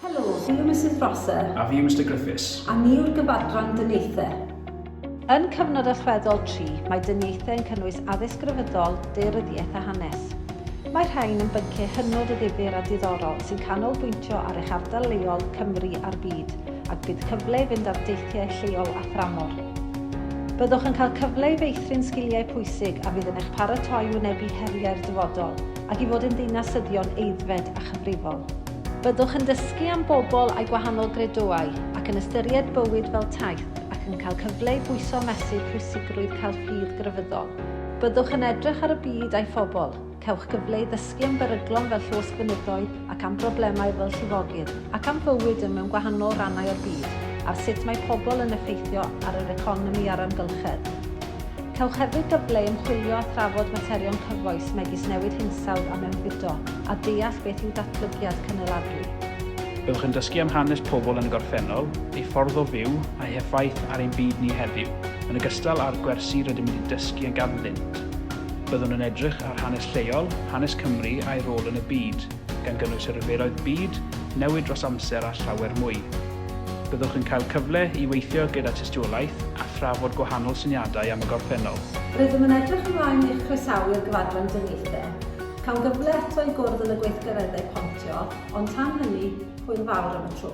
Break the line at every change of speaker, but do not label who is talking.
Helo, fi yw Misus Prosser. A fi yw Mister Griffiths.
A ni yw'r gyfadran
dyniaethau. Yn
cyfnod allweddol tri, mae dyniaethau yn cynnwys addysg grefyddol, daearyddiaeth a hanes. Mae rhain yn bynciau hynod o ddifyr a diddorol sy'n canolbwyntio ar eich ardal leol, Cymru a'r byd, ac bydd cyfle i fynd ar deithiau lleol a thramor. Byddwch yn cael cyfle i feithrin sgiliau pwysig a fydd yn eich paratoi i wynebu heriau'r dyfodol ac i fod yn ddinasyddion aeddfed a chyfrifol. Byddwch yn dysgu am bobl â'i gwahanol gredoau ac yn ystyried bywyd fel taith ac yn cael cyfle i bwyso a mesur pwysigrwydd cael ffydd grefyddol. Byddwch yn edrych ar y byd a'i phobl. Cewch gyfle i ddysgu am beryglon fel llosgfynyddoedd ac am broblemau fel llifogydd, ac am fywyd yn mewn gwahanol rannau o'r byd, ar sut mae pobl yn effeithio ar yr economi a'r amgylchedd. Cewch hefyd gyfle i ymchwilio a thrafod materion cyfoes megis newid hinsawdd a mewnfudo, a deall beth yw datblygiad cynaladwy. Byddwch yn
dysgu am hanes pobl yn y gorffennol, eu ffordd o fyw, a'u heffaith ar ein byd ni heddiw, yn ogystal â'r gwersi rydym wedi dysgu a ganddynt. Byddwn yn edrych ar hanes lleol, hanes Cymru a'i rôl yn y byd, gan gynnwys y rhyfeloedd byd, newid dros amser a llawer mwy. Byddwch yn cael cyfle i weithio gyda tystiolaeth a thrafod gwahanol syniadau am y gorffennol. Rydym yn edrych
ymlaen i'ch croesawu i'r gyfadran dyngeithr. Cawn gyfle eto i gwrdd yn y gweithgareddau pontio, ond tan hynny, hwyl fawr am y tro.